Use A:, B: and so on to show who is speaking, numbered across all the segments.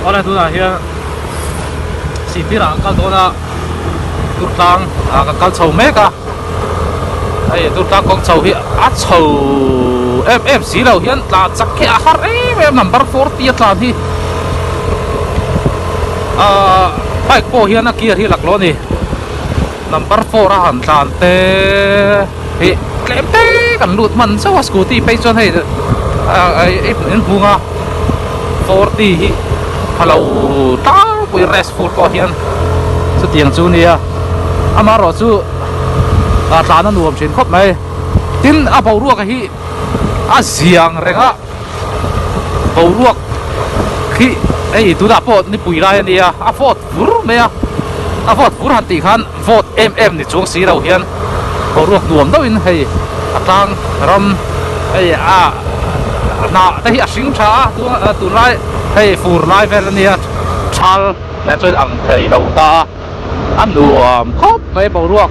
A: Khawla tunah hian sibir ah kal dawn a tur tlang ah ka kal chho mek a hei tur tlang kawng chho hi a chho em em si lo hian tla chak khi a har em em number forty a tlan hi ahh bike pawh hian a gear hi a lak leh a ni. number four a han tlan te hi tlem te kan lut hman zauh a scooty phei chuan hei in hung a four t hi a lo tlang pui a race fur pawh hian chuti ang chu a nia ama erawh chu tlan a nuam thin khawp mai tin a boruak hi a ziang reng a. boruak khi hei tunah pawh nipui lai a nia a vawt fur mai a a vawt fur han tih khan vawt em em ni chuang si lo hian boruak nuam deuhin hei a tlang ram hei a hnah te hi a hring tha a a tunlai hei fur lai vel a nia chhal leh chuan ang thei lo ta a a nuam khawp mai boruak.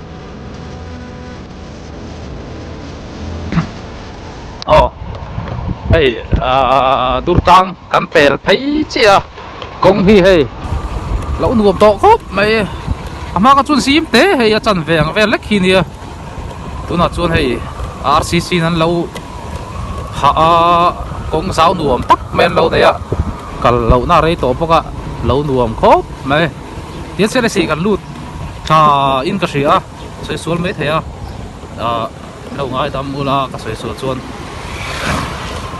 A: Aw, hei durtang kan pel phei chi a kawng hi hei lo nuam tawh khawp mai a a hma kha chuan zim te hei a chanveng vel lek hi nia tunah chuan hei rcc in an lo hah a kawng zau nuam tak mai an lo nei a kal lohna rei tawh bawk a lo nuam khawp mai. Tia chian a si kan lut tha in ka hria sawi sual mai thei a ah lo ngai dam u la ka sawi sual chuan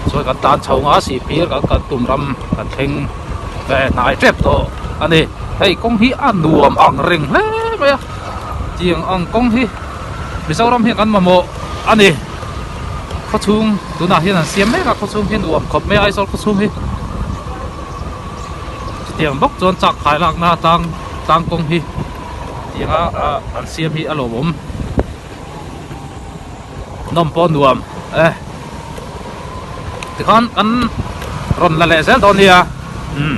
A: sawi kan tan chho nga si pir kan kan tum ram kan thleng ve hnai tep tawh a ni hei kawng hi a nuam ang reng hle mai a chiang ang kawng hi Mizoram hian kan mamawh a ni khawchhung tunah hian an siam mek a khawchhung hi nuam khawp mai a Aizawl khawchhung hi. Chutiang bawk chuan chak khai lakna atang tlang kawng hi tianga ah an siam hi a lo awm nawm pawh nuam e tikhan kan rawn la leh zel dawn nia umm.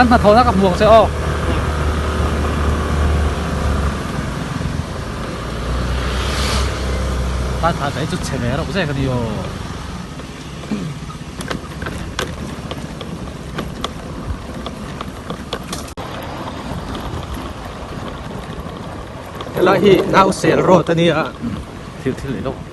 A: kan hnathawh na ka hmuh ang che aw tan hna te hi chu chhe leh reuh zek a ni aw helai hi nausel road a ni a thil thil leh deuh.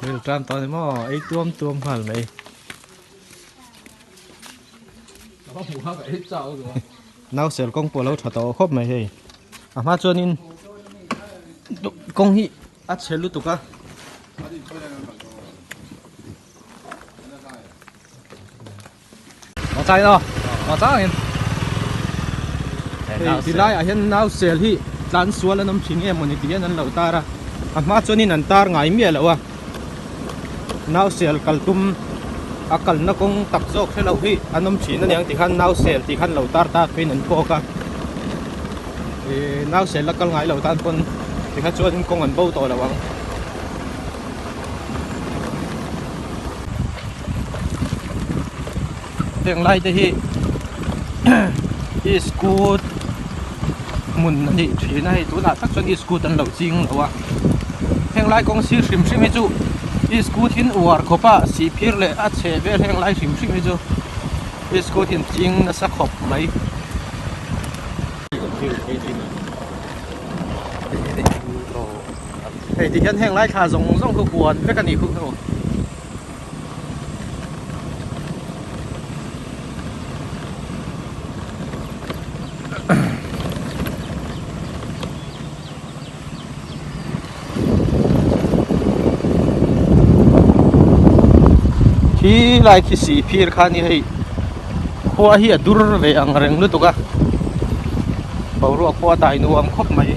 A: Thil tan tawh ni maw? Ei tuam tuam nghal mai. Nau sel kawng pawh lo tha tawh khawp mai hei. A hma chuan in kawng hi a chhe lutuk a. Mawng changin aw, mawng changin. Ti lai ah hian nau sel hi tlan sual an awm thin em awni tih hian an lo tar a. A hma chuanin an tar ngai miah loh a. Nau sel kal tum a kalna kawng tak zawk hre loh hi an awm thin aniang tih khan nau sel tih khan lo tar tar phei in an pawk a. Nau sel a kal ngai lo tan pawn tikha chuan kawng an bo tawh lo ang. heng lai te hi i scoot hmun a nih thin a hei tunah tak chuan i scoot an lo ching loh a heng lai kawng sir hrim hrim hi chu i scoot in uar khawp a sihphir leh a chheh vel heng lai hrim hrim hi chu i scoot in ching nasa khawp mai -- Hei ti hian heng lai thla zawng zawng chu huan vek a nih khuh hnu. Hi lai thisi phir khan ni hei. Khua hi a dur ve ang reng lutuk a, boruak pawh a dai nuam khawp mai.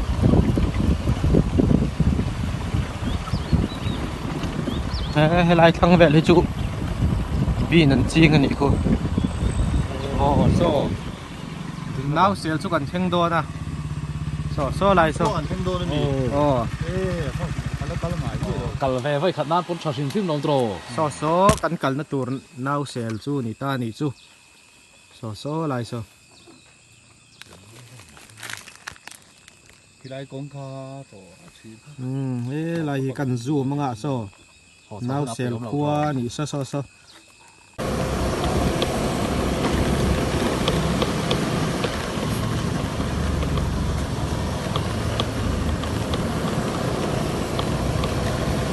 A: He helai thlang vel hi chu bean an ching a nih khu. Aw so nau sel chu kan thleng dawn a. So so lai so. An thleng dawn a ni. Aw. Kal ve vai khat nan pawn tha hrim hrim lo draw. So so kan kalna tur Nau sel chu ni ta nih chu saw saw lai saw. Khilai kawng kha tawh a chhim kha. Umm he lai hi kan zoom anga saw. Nau sel khua ni saw saw saw.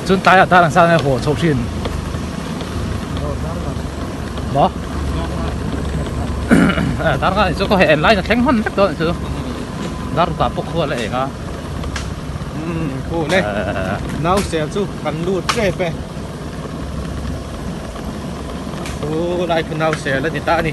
A: Chun tai a tarang sang e ho chho thin. Bo. Eh tarang ani chu ko he en lai na thleng hman vek don chu. Dar ta pawk khual a eng a. Um ko le. Nau sel chu kan lu che pe. Chu lai chu nau sel ani ta ani.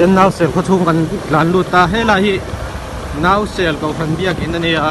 A: Ten nausel khaw chhung kan tlan lut ta hela hi nausel Kohhran biak in a ni a.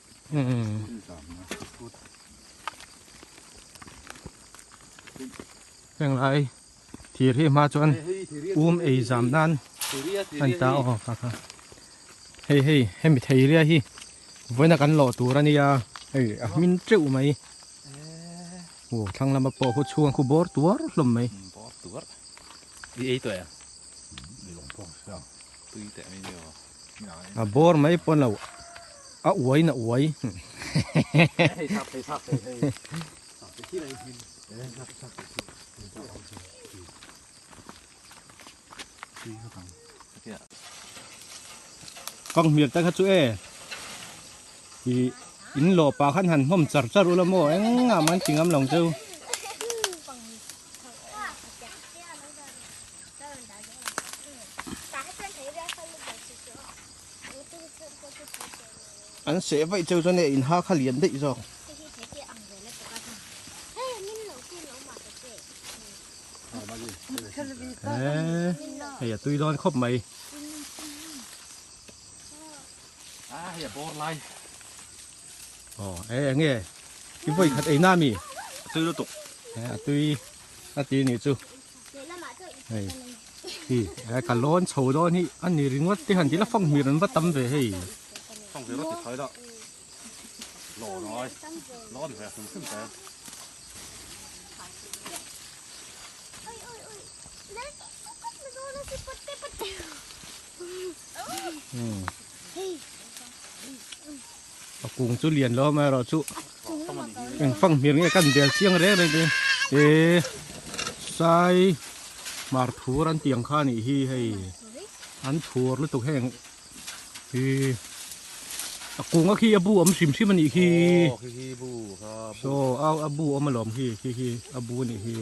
A: heng lai thir hi hma chuan um ei zam nan a ni ta aw kha kha hei hei hemi theiria hi vawiin a kan lawh tur a nia hei a hming teuh mai aw thlang lama pawh khaw chhunga khu bawr tuar hlawm mai bawr tuar i ei tawh e ang mi lawng pawh a hriat ang tui teh mai ni aww. A bawr mai pawn lo, a uai na uai. Ka nghmiak ta kha chu e, in lawh pah khan han hnawm char char ula maw engah man chingamlo chu. an seh vaih cheu chuan hei a inha kha lian daih zawk hei a tui dawn khawp mai hei a bawr lai aw e eng e i vawi khat eina mi a tui lutuk a tui a ti ni chu hei hi helai ka lawn chho dawn hi a ni ringawt te han tih la fanghmir an va tam ve hei fanghmir rawt ti thai dah lawn ai lawn ve hrim hrim te Hey. A kung chu lian lawm a erawh chu eng fang hmel nge kan bel chiang reng reng te e sai hmar phur an tih ang kha anih hi hei an phur lutuk heng hi a kunga khi a bu awm hrim hrim anih hi so a a bu awm alawm hi khi khi a bu anih hi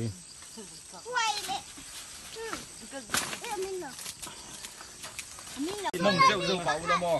A: Mong zeuh zeuh pah u lawm aw.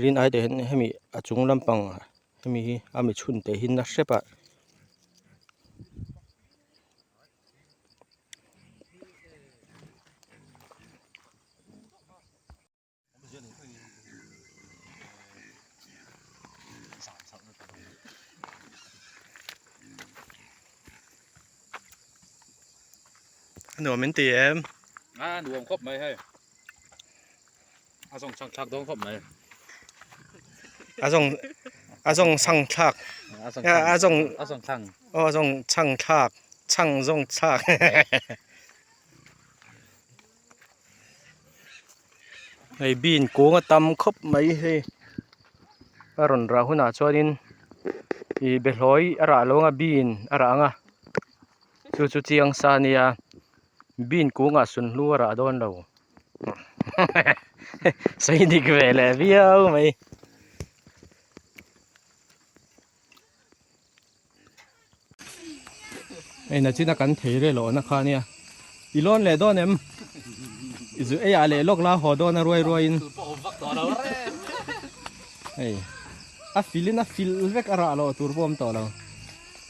A: rin aite hian hemi a chung lampang hemi hi a mi chhun te hi na hrep a A nuam in ti em? A nuam khawp mai hei. A zawng chang thlak dawn khawp mai. A zawng a zawng chang thlak. A zawng a zawng chang. O a zawng chang thlak. Chang zawng thlak. Hei bean kung a tam khawp mai hei. A rawn rah hunah chuan in i be hlawi a rah lawng a bean a rah ang a. Chu chu chiang sa nia bean kungah sun hluara a dawn lo sawi dik ve leh viau mai. Eina china kan thei reh loh na kha nia i lawn leh dawn em i zu ei ah leh lawk la haw dawn a ruai ruai in hei a fil in a fil vek a rah loh tur bawm tawh lo.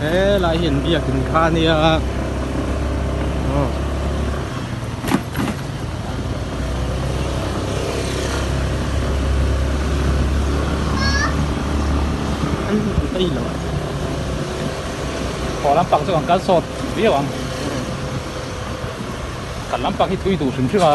A: He lai hian biak in kha nia Khawlam pang chu ang kal sawt viau ang Kal lam pang hi thui duh hrim hrim a